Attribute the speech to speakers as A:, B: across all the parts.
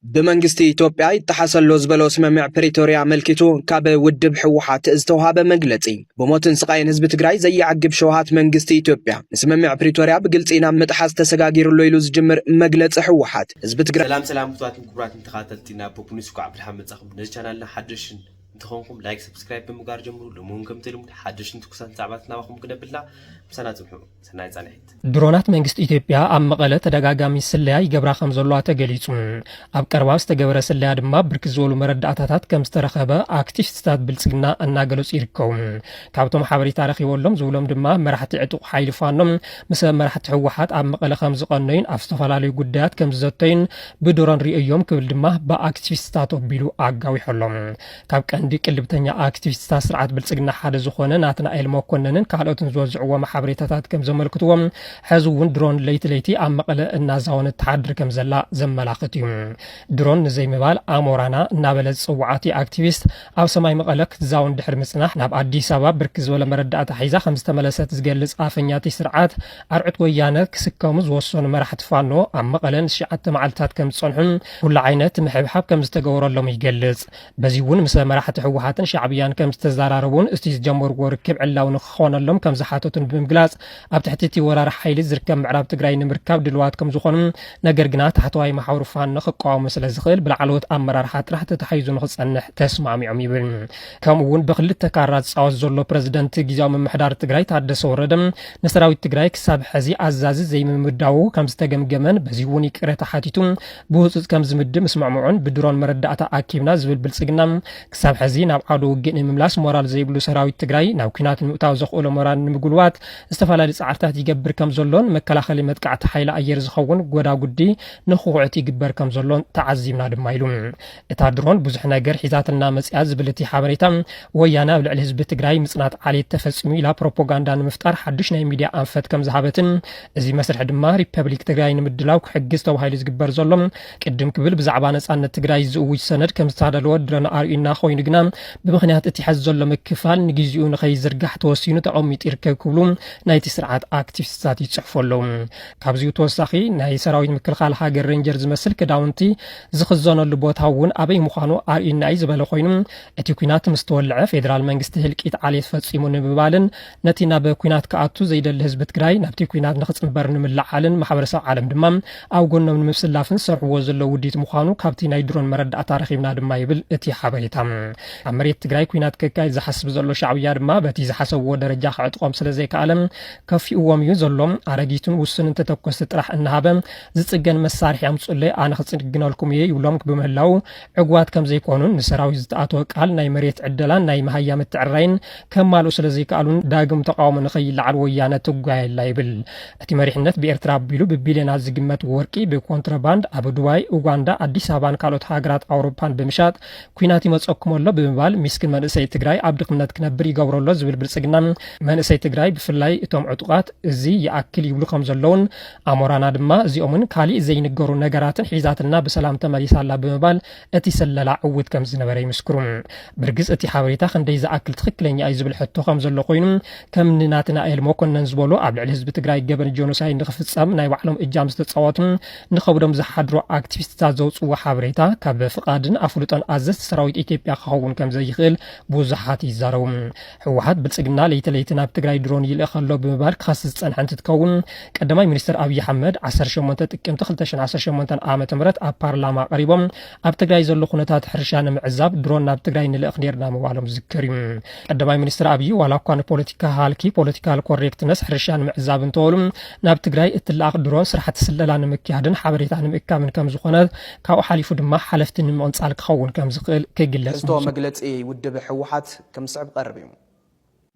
A: ብመንግስቲ ኢትዮጵያ ይጠሓሰሎ ዝበሎ ስምምዕ ፕሪቶርያ ኣመልኪቱ ካብ ውድብ ህወሓት ዝተውሃበ መግለፂ ብሞትን ስቓይን ህዝቢ ትግራይ ዘየዕግብ ሸውሃት መንግስቲ ኢትዮጵያ ንስምምዕ ፕሪቶርያ ብግልፂ ናብ ምጥሓስ ተሰጋጊሩሎ ኢሉ ዝጅምር መግለፂ ህወሓት ህዝቢ ትግራይ ሰላም ሰላም ክቡራትን ክቡራትን
B: ተኸታተልቲ ናብ ፖፕ ኒውስ ኳዕ ብድሓን መጻኹም ነዚ ቻናልና ሓደሽን እንተኾንኩም ላይክ ሰብስክራይብ ብምግባር ጀምሩ ሎሚ እውን ከምቲ ልሙድ ሓደሽን ትኩሳትን ዛዕባታት ናባኹም ክነብልና ምሳና ጽንሑ ሰናይ ጻንሒት። ድሮናት መንግስቲ
C: ኢትዮጵያ ኣብ መቐለ ተደጋጋሚ ስለያ ይገብራ ከም ዘለዋ ተገሊጹ። ኣብ ቀረባ ዝተገበረ ስለያ ድማ ብርክት ዝበሉ መረዳእታታት ከም ዝተረኸበ ኣክቲሽትታት ብልጽግና እናገለጹ ይርከቡ። ካብቶም ሓበሬታ ረኺበሎም ዝብሎም ድማ መራሕቲ ዕጡቕ ሓይሊ ፋኖ ምስ መራሕቲ ህወሓት ኣብ መቐለ ከም ዝቐነዩን ኣብ ዝተፈላለዩ ጉዳያት ከም ዝዘተዩን ብድሮን ርእየዮም ክብል ድማ ብኣክቲቪስትታት ኣቢሉ ኣጋዊሖሎም። ካብ ቀንዲ ቅልብተኛ ኣክቲቪስትታት ስርዓት ብልፅግና ሓደ ዝኾነ ናትናኤል መኮነንን ካልኦትን ዝወዝዕዎም ሓበሬታታት ከም ዘመልክትዎ ሕዚ እውን ድሮን ለይቲ ለይቲ ኣብ መቐለ እናዛወነት ትሓድር ከም ዘላ ዘመላኽት እዩ። ድሮን ንዘይምባል ኣሞራና እናበለ ዝፅውዓቲ ኣክቲቪስት ኣብ ሰማይ መቐለ ክትዛውን ድሕሪ ምፅናሕ ናብ ኣዲስ ኣበባ ብርክት ዝበለ መረዳእታ ሒዛ ከም ዝተመለሰት ዝገልፅ ኣፈኛቲ ስርዓት ኣርዑት ወያነ ክስከሙ ዝወሰኑ መራሕቲ ፋኖ ኣብ መቐለ ንትሽዓተ መዓልታት ከም ዝፀንሑን ኩሉ ዓይነት ምሕብሓብ ከም ዝተገበረሎም ይገልፅ። በዚ እውን ምሰ መራሕቲ ህወሓትን ሻዕብያን ከም ዝተዘራረቡን እቲ ዝጀመርዎ ርክብ ዕላዊ ንክኾነሎም ከም ዝሓተቱን ብምግላፅ ኣብ ትሕቲ እቲ ወራሪ ሓይሊ ዝርከብ ምዕራብ ትግራይ ንምርካብ ድልዋት ከም ዝኾኑ ነገር ግና ታሕተዋይ መሓውር ፋኖ ክቃወሞ ስለ ዝኽእል ብላዕለዎት ኣመራርሓ ጥራሕ ተታሒዙ ንክፀንሕ ተስማዕሚዖም ይብል። ከምኡ እውን ብክልተ ካራ ዝፃወት ዘሎ ፕረዚደንት ግዜያዊ ምምሕዳር ትግራይ ታደሰ ወረደ ንሰራዊት ትግራይ ክሳብ ሕዚ ኣዛዚ ዘይምምዳዉ ከም ዝተገምገመን በዚ እውን ይቅረታ ሓቲቱ ብህፁፅ ከም ዝምድብ ምስምዕምዑን ብድሮን መረዳእታ ኣኪብና ዝብል ብልፅግና ክሳብ ሕዚ ናብ ዓዶ ውግእ ንምምላስ ሞራል ዘይብሉ ሰራዊት ትግራይ ናብ ኩናት ንምእታው ዘኽእሎ ሞራል ንምጉልባት ዝተፈላለዩ ፃዕርታት ይገብር ከም ዘሎን መከላኸሊ መጥቃዕቲ ሓይሊ ኣየር ዝኸውን ጎዳጉዲ ንክኹዕት ይግበር ከም ዘሎን ተዓዚብና ድማ ኢሉ እታ ድሮን ብዙሕ ነገር ሒዛትልና መፅያ ዝብል እቲ ሓበሬታ፣ ወያነ ኣብ ልዕሊ ህዝቢ ትግራይ ምፅናት ዓሌት ተፈፂሙ ኢላ ፕሮፖጋንዳ ንምፍጣር ሓዱሽ ናይ ሚድያ ኣንፈት ከምዝሃበትን እዚ መስርሒ ድማ ሪፐብሊክ ትግራይ ንምድላው ክሕግዝ ተባሂሉ ዝግበር ዘሎ ቅድም ክብል ብዛዕባ ነፃነት ትግራይ ዝእውጅ ሰነድ ከምዝተዳለወ ድረን ኣርእዩና ኮይኑ ግና ብምክንያት እቲ ሐዚ ዘሎ ምክፋል ንግዚኡ ንከይዝርጋሕ ተወሲኑ ተቐሚጡ ይርከብ ክብሉ ናይቲ ስርዓት ኣክቲቪስትታት ይፅሕፉ ኣለዉ። ካብዚኡ ተወሳኺ ናይ ሰራዊት ምክልኻል ሃገር ሬንጀር ዝመስል ክዳውንቲ ዝኽዘነሉ ቦታ እውን ኣበይ ምዃኑ ኣርእዩና'ዩ ዝበለ ኮይኑ፣ እቲ ኲናት ምስ ተወልዐ ፌደራል መንግስቲ ህልቂት ዓሌት ፈጺሙ ንምባልን ነቲ ናብ ኲናት ክኣቱ ዘይደሊ ህዝቢ ትግራይ ናብቲ ኲናት ንኽጽንበር ንምልዓልን ማሕበረሰብ ዓለም ድማ ኣብ ጎኖም ንምስላፍን ዝሰርሕዎ ዘለዉ ውዲት ምዃኑ ካብቲ ናይ ድሮን መረዳእታ ረኺብና ድማ ይብል እቲ ሓበሬታ። ኣብ መሬት ትግራይ ኲናት ከካይድ ዝሓስብ ዘሎ ሻዕብያ ድማ በቲ ዝሓሰብዎ ደረጃ ክዕጥቖም ስለዘይከኣለ ከፊኡዎም እዩ ዘሎ። ኣረጊቱን ውሱንን ተተኮስቲ ጥራሕ እናሃበ ዝፅገን መሳርሒ ኣምፁለይ ኣነ ክፅግነልኩም እየ ይብሎም ብምህላዉ ዕጉባት ከምዘይኮኑን ንሰራዊት ዝተኣተወ ቃል ናይ መሬት ዕደላን ናይ መሃያ ምትዕርራይን ከማልኡ ስለዘይከኣሉን ዳግም ተቃውሞ ንከይለዓል ወያነ ትጓየላ ይብል። እቲ መሪሕነት ብኤርትራ ኣቢሉ ብቢልዮናት ዝግመት ወርቂ ብኮንትሮባንድ ኣብ ዱባይ፣ ኡጋንዳ፣ ኣዲስ ኣበባን ካልኦት ሃገራት ኣውሮፓን ብምሻጥ ኩናት ይመፀኩም ኣሎ ብምባል ሚስኪን መንእሰይ ትግራይ ኣብ ድኽነት ክነብር ይገብሮ ኣሎ ዝብል ብልፅግና መንእሰይ ትግራይ ብፍላይ እቶም ዕጡቓት እዚ ይኣክል ይብሉ ከምዘለዉን ኣሞራና ድማ እዚኦምን ካሊእ ዘይንገሩ ነገራትን ሒዛትልና ብሰላም ተመሊሳ ኣላ ብምባል እቲ ስለላ ዕውት ከም ዝነበረ ይምስክሩ። ብርግፅ እቲ ሓበሬታ ክንደይ ዝኣክል ትኽክለኛ እዩ ዝብል ሕቶ ከም ዘሎ ኮይኑ ከም ንናትናኤል መኮነን ዝበሉ ኣብ ልዕሊ ህዝቢ ትግራይ ገበን ጆኖሳይድ ንክፍፀም ናይ ባዕሎም እጃም ዝተፃወቱ ንኸብዶም ዝሓድሩ ኣክቲቪስትታት ዘውፅዎ ሓበሬታ ካብ ፍቓድን ኣፍልጦን ኣዘዝቲ ሰራዊት ኢትዮጵያ ክኸውን ከም ዘይኽእል ብዙሓት ይዛረቡ። ህወሓት ብልፅግና ለይቲ ለይቲ ናብ ትግራይ ድሮን ይልእኽ ኣሎ ብምባል ክኸስስ ዝፀንሐ እንትትከውን ቀዳማይ ሚኒስትር ኣብዪ ሓመድ 18 ጥቅምቲ 2018 ዓ ም ኣብ ፓርላማ ቀሪቦም ኣብ ትግራይ ዘሎ ኩነታት ሕርሻ ንምዕዛብ ድሮን ናብ ትግራይ ንልእኽ ነርና ምባሎም ዝዝከር እዩ ቀዳማይ ሚኒስትር ኣብዪ ዋላ እኳ ንፖለቲካ ሃልኪ ፖለቲካል ኮሬክትነስ ሕርሻ ንምዕዛብ እንተበሉ ናብ ትግራይ እትለኣኽ ድሮን ስራሕቲ ስለላ ንምክያድን ሓበሬታ ንምእካብን ከም ዝኾነ ካብኡ ሓሊፉ ድማ ሓለፍቲ ንምቕንፃል ክኸውን ከም ዝኽእል ክግለፅ መግለፂ
A: ውድብ ህወሓት ከም ዝስዕብ ክቐርብ እዩ።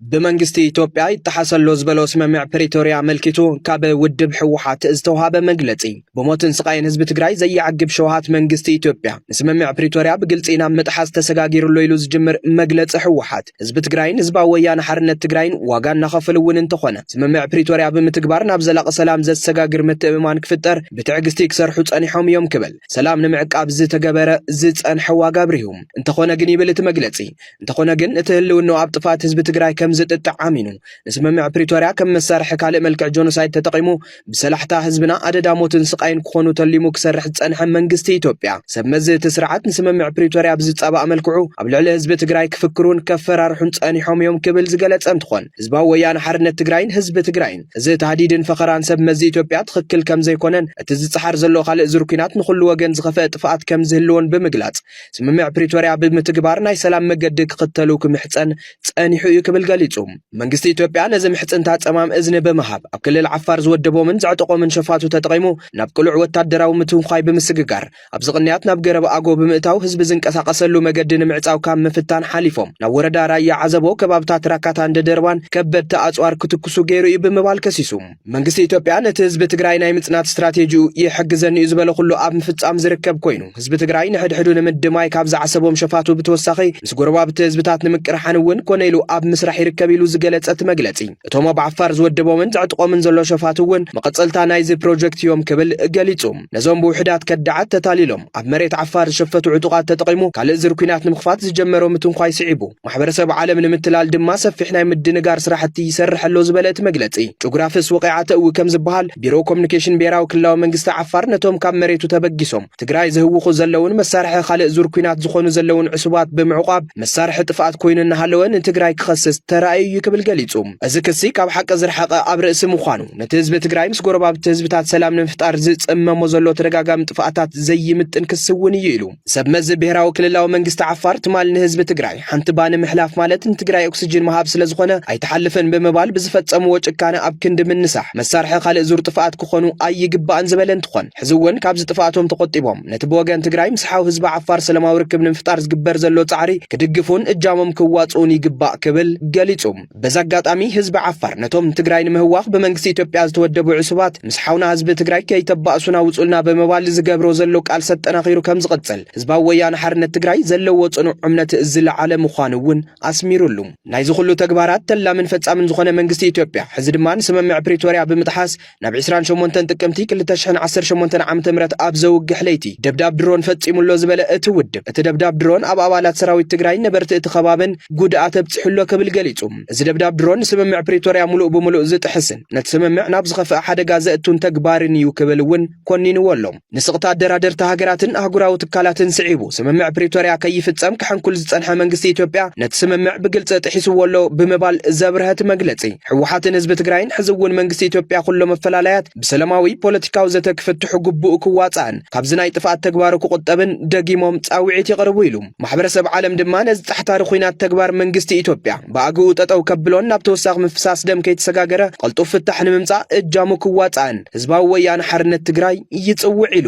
A: ብመንግስቲ ኢትዮጵያ ይጠሓስ ኣሎ ዝበሎ ስምምዕ ፕሪቶርያ ኣመልኪቱ ካብ ውድብ ህወሓት ዝተውሃበ መግለፂ ብሞትን ስቓይን ህዝቢ ትግራይ ዘየዕግብ ሸውሃት መንግስቲ ኢትዮጵያ ንስምምዕ ፕሪቶርያ ብግልፂ ናብ ምጥሓስ ተሰጋጊሩ ኣሎ ኢሉ ዝጅምር መግለፂ ህወሓት ህዝቢ ትግራይን ህዝባዊ ወያነ ሓርነት ትግራይን ዋጋ እናኸፈሉ እውን እንተኾነ ስምምዕ ፕሪቶርያ ብምትግባር ናብ ዘላቒ ሰላም ዘሰጋግር ምትእምማን ክፍጠር ብትዕግስቲ ክሰርሑ ፀኒሖም እዮም ክብል ሰላም ንምዕቃብ ዝተገበረ ዝፀንሐ ዋጋ ኣብሪሁ። እንተኾነ ግን ይብል እቲ መግለፂ እንተኾነ ግን እቲ ህልውናኡ ኣብ ጥፍኣት ህዝቢ ትግራይ ከም ዝጥጥዕ ኣሚኑ ንስምምዕ ፕሪቶርያ ከም መሳርሒ ካልእ መልክዕ ጆኖሳይድ ተጠቒሙ ብሰላሕታ ህዝብና ኣደዳ ሞትን ስቃይን ክኾኑ ተሊሙ ክሰርሕ ዝፀንሐ መንግስቲ ኢትዮጵያ ሰብ መዚ እቲ ስርዓት ንስምምዕ ፕሪቶርያ ብዝፃባእ መልክዑ ኣብ ልዕሊ ህዝቢ ትግራይ ክፍክሩን ከፈራርሑን ፀኒሖም እዮም ክብል ዝገለፀ እንትኾን ህዝባዊ ወያነ ሓርነት ትግራይን ህዝቢ ትግራይን እዚ ታህዲድን ፈኸራን ሰብ መዚ ኢትዮጵያ ትኽክል ከም ዘይኮነን እቲ ዝፀሓር ዘሎ ካልእ ዙር ኩናት ንኹሉ ወገን ዝኸፈአ ጥፍኣት ከም ዝህልዎን ብምግላፅ ስምምዕ ፕሪቶርያ ብምትግባር ናይ ሰላም መገዲ ክኽተሉ ክምሕፀን ፀኒሑ እዩ ክብል ገሊፁ። መንግስቲ ኢትዮጵያ ነዚ ምሕፅንታ ፀማም እዝኒ ብምሃብ ኣብ ክልል ዓፋር ዝወደቦምን ዘዕጠቖምን ሸፋቱ ተጠቒሙ ናብ ቅሉዕ ወታደራዊ ምትንዃይ ብምስግጋር ኣብዚ ቅንያት ናብ ገረብ ኣጎ ብምእታው ህዝቢ ዝንቀሳቐሰሉ መገዲ ንምዕፃው ካብ ምፍታን ሓሊፎም ናብ ወረዳ ራያ ዓዘቦ ከባብታት ራካታን ደደርባን ከበድቲ ኣፅዋር ክትኩሱ ገይሩ እዩ ብምባል ከሲሱ። መንግስቲ ኢትዮጵያ ነቲ ህዝቢ ትግራይ ናይ ምጽናት ስትራቴጂኡ ይሕግዘኒ እዩ ዝበለ ኩሉ ኣብ ምፍጻም ዝርከብ ኮይኑ ህዝቢ ትግራይ ንሕድሕዱ ንምድማይ ካብ ዝዓሰቦም ሸፋቱ ብተወሳኺ ምስ ጎረባብቲ ህዝብታት ንምቅርሓን እውን ኮነ ኢሉ ኣብ ምስራሕ ይርከብ ኢሉ ዝገለጸ እቲ መግለጺ እቶም ኣብ ዓፋር ዝወደቦምን ዘዕጥቆምን ዘሎ ሸፋቱ እውን መቐጸልታ ናይዚ ፕሮጀክት እዮም ክብል ገሊጹ። ነዞም ብውሕዳት ከዳዓት ተታሊሎም ኣብ መሬት ዓፋር ዝሸፈቱ ዕጡቓት ተጠቒሙ ካልእ ዝር ኩናት ንምኽፋት ዝጀመሮ ምትንኳይ ስዒቡ ማሕበረሰብ ዓለም ንምትላል ድማ ሰፊሕ ናይ ምድንጋር ስራሕቲ ይሰርሕ ኣሎ ዝበለ እቲ መግለፂ ጭጉራፍስ ወቂዓ ተእዊ ከም ዝበሃል ቢሮ ኮሚኒኬሽን ብሄራዊ ክልላዊ መንግስቲ ዓፋር ነቶም ካብ መሬቱ ተበጊሶም ትግራይ ዝህውኹ ዘለውን መሳርሒ ካልእ ዙር ኩናት ዝኾኑ ዘለውን ዕሱባት ብምዕቋብ መሳርሒ ጥፍኣት ኮይኑ እናሃለወ ንትግራይ ክኸስስ ተራእዩ እዩ ክብል ገሊጹ። እዚ ክሲ ካብ ሓቂ ዝረሓቐ ኣብ ርእሲ ምዃኑ ነቲ ህዝቢ ትግራይ ምስ ጎረባብቲ ህዝብታት ሰላም ንምፍጣር ዝጽመሞ ዘሎ ተደጋጋሚ ጥፍኣታት ዘይምጥን ክሲ እውን እዩ ኢሉ። ሰብመዚ ብሄራዊ ክልላዊ መንግስቲ ዓፋር ትማል ንህዝቢ ትግራይ ሓንቲ ባኒ ምሕላፍ ማለት ንትግራይ ኦክስጅን ምሃብ ስለ ዝኾነ ኣይተሓልፍን ብምባል ብዝፈጸምዎ ጭካነ ኣብ ክንዲ ምንሳሕ መሳርሒ ካልእ ዙር ጥፍኣት ክኾኑ ኣይግባእን ዝበለ እንትኾን ሕዚ እውን ካብዚ ጥፍኣቶም ተቆጢቦም ነቲ ብወገን ትግራይ ምስ ሓው ህዝቢ ዓፋር ሰላማዊ ርክብ ንምፍጣር ዝግበር ዘሎ ጻዕሪ ክድግፉን እጃሞም ክዋጽኡን ይግባእ ክብል ገሊጹ። በዚ ኣጋጣሚ ህዝቢ ዓፋር ነቶም ንትግራይ ንምህዋኽ ብመንግስቲ ኢትዮጵያ ዝተወደቡ ዕሱባት ምስ ሓውና ህዝቢ ትግራይ ከይተባእሱና ውጹልና ብምባል ዝገብሮ ዘሎ ቃልሲ ኣጠናኺሩ ከም ዝቕጽል ህዝባዊ ወያነ ሓርነት ትግራይ ዘለዎ ጽኑዕ እምነት ዝለዓለ ምዃኑ እውን ኣስሚሩሉ። ናይዚ ኩሉ ተግባራት ተላምን ፈጻምን ዝኾነ መንግስቲ ኢትዮጵያ ሕዚ ድማ ንስምምዕ ፕሪቶርያ ብምጥሓስ ናብ ዕስራን ሸሞንተን ጥቅምቲ ክልተ ሽሕን ዓሰርተ ሸሞንተን ዓመተ ምህረት ኣብ ዘውግሕ ለይቲ ደብዳብ ድሮን ፈጺሙ'ሎ ዝበለ እቲ ውድብ፣ እቲ ደብዳብ ድሮን ኣብ ኣባላት ሰራዊት ትግራይን ነበርቲ እቲ ከባብን ጉድኣት ኣብጺሑ'ሎ ክብል ገሊጹ። እዚ ደብዳብ ድሮን ንስምምዕ ፕሪቶርያ ምሉእ ብምሉእ ዝጥሕስን ነቲ ስምምዕ ናብ ዝኸፍኣ ሓደጋ ዘእቱን ተግባርን'ዩ ክብል እውን ኮኒንዎ'ሎ። ንስቕታ ኣደራደርቲ ሃገራትን ኣህጉራዊ ትካላትን ስዒቡ ስምምዕ ፕሪቶርያ ከይፍጸም ክሕንኩል ዝጸንሐ መንግስቲ ኢትዮጵያ ነቲ ስምምዕ ብግልፂ ጥሒስዎ ኣሎ ብምባል ዘብርሀቲ መግለፂ ህወሓትን ህዝቢ ትግራይን ሕዚ እውን መንግስቲ ኢትዮጵያ ኩሎ መፈላለያት ብሰለማዊ ፖለቲካዊ ዘተ ክፍትሑ ግቡኡ ክዋፃእን ካብዚ ናይ ጥፍኣት ተግባሩ ክቑጠብን ደጊሞም ፃውዒት የቕርቡ ኢሉ። ማሕበረሰብ ዓለም ድማ ነዚ ጻሕታሪ ኩናት ተግባር መንግስቲ ኢትዮጵያ ብኣግኡ ጠጠው ከብሎን ናብ ተወሳኺ ምፍሳስ ደም ከይተሰጋገረ ቐልጡፍ ፍታሕ ንምምጻእ እጃሙ ክዋጻእን ህዝባዊ ወያነ ሓርነት ትግራይ ይጽውዕ ኢሉ።